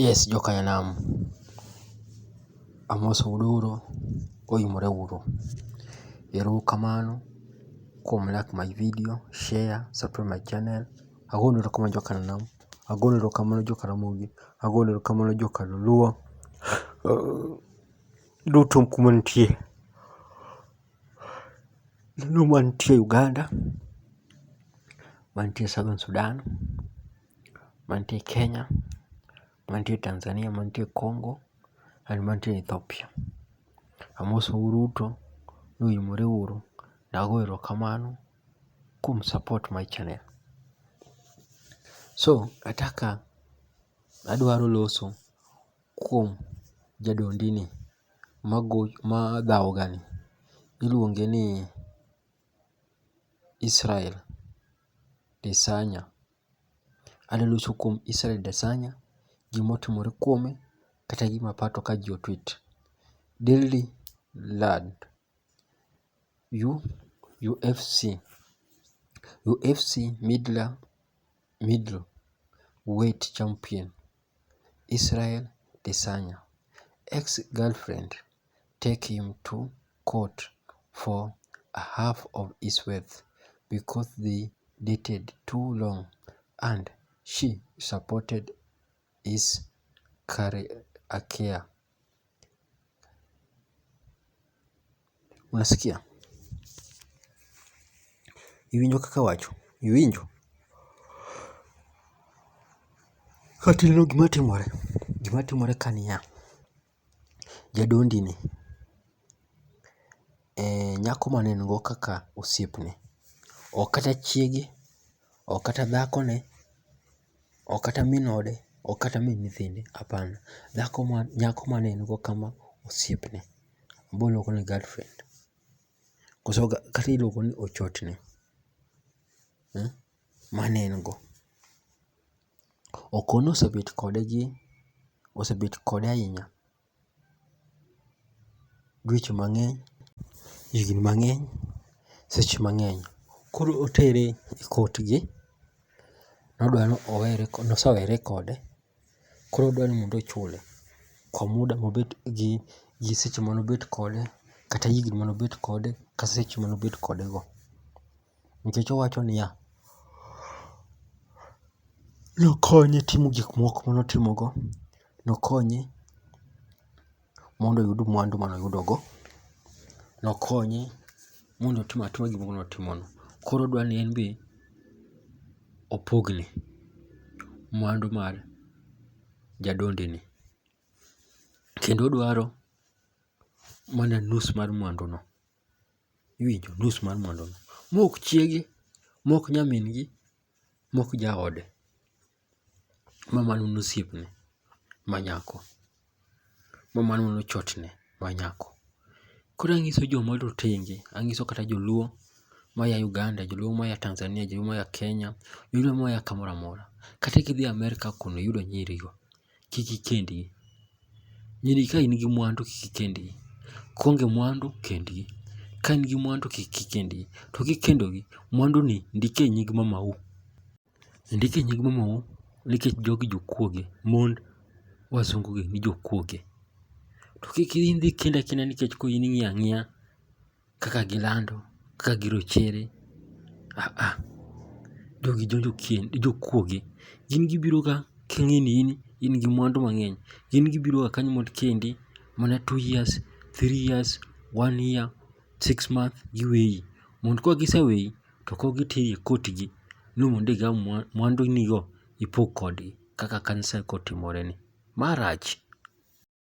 Yes joka nyanam, amoso uru uru, oimore uru. Ero uru kamano kuom like my video, share, subscribe my channel. Agonu ero kamano joka nyanam, agonu ero kamano joka ramogi, agonu ero kamano joka luo. Duto kuma untie, un mantie Uganda, mantie Southern Sudan. mantie Kenya, mantie Tanzania, mantie Congo and mantie Ethiopia. Amosou duto ni uimore uru, nago erokamano kuom support my channel. So ataka adwaro loso kuom jadondini madhawgani, iluonge ni Israel Desanya. Adwa loso kuom Israel Adesanya, gima otimore kuome kata gima aparo to ka ji o tweet. Daily land UFC, UFC middle weight champion Israel Adesanya, ex girlfriend. take him to court for a half of his wealth because they dated too long and she supported his career. Unasikia? Iwinjo kaka awacho? Iwinjo? Kata ineno gima timore? Gima timore ka niya, Jadondi ni, eh, nyako mane en go kaka osiepne. Ok kata chiege, ok kata dhakone, ok kata min ode, ok kata min nyithinde, hapana. Dhako ma nyako mane en go kama osiepne. Boluongo ni girlfriend. Koso kata iluongo ni ochotne. Mmh. mane en go. Okon osebet kode gi osebet kode ahinya dweche mang'eny, higni mang'eny, seche mang'eny. Koro otere e court gi, nodwa ni owere nosewere kode koro odwa ni mondo ochule kwa muda mobet gi gi seche manobet kode kata higni manobet kode kata seche manobet kode go. nikech owacho niya, Nokonye timo gik moko ma notimogo, nokonye mondo oyud mwandu ma noyudogo, nokonye mondo otim atima gik moko ma notimogo. Koro odwa ni en be opogne mwandu mar jadondini, kendo odwaro mana nus mar mwanduno. iwinjo nus mar mwanduno. Mok chiege, mok nyamin gi, mok jaode ma mano en osiepne ma nyako, ma mano en ochotne ma nyako. Koro ang'iso joma rotenge, ang'iso kata joluo ma ya Uganda, joluo ma ya Tanzania, joluo ma ya Kenya, joluo ma ya kamoro amora. Kata kidhi Amerka kuno iyudo nyirigo. kik ikendgi. Nyiri ka in gi mwandu kik ikendgi. Kionge mwandu kendgi. Ka in gi mwandu kik ikendgi. To kikendogi, mwandu ni ndik e nying mamau. Ndik e nying mamau nikech jogi jokuoge. Mond wasungu gi ni jokuoge. To kik idhi kendo akenda nikech koro in ing'iyo ang'iya. kaka gilando, kaka girochere. Ah ah, jogi jokuoge. Gin gibiro ka king'e ni in in gi mwandu mang'eny. Gin gibiro ga kanyo mond kendi mana two years, three years, one year, six month giweyi. Mond ka giseweyi to kok giteri e court gi ni mond igaw mwandu ni go ipog kodgi kaka kanisa kotimore ni. Ma rach.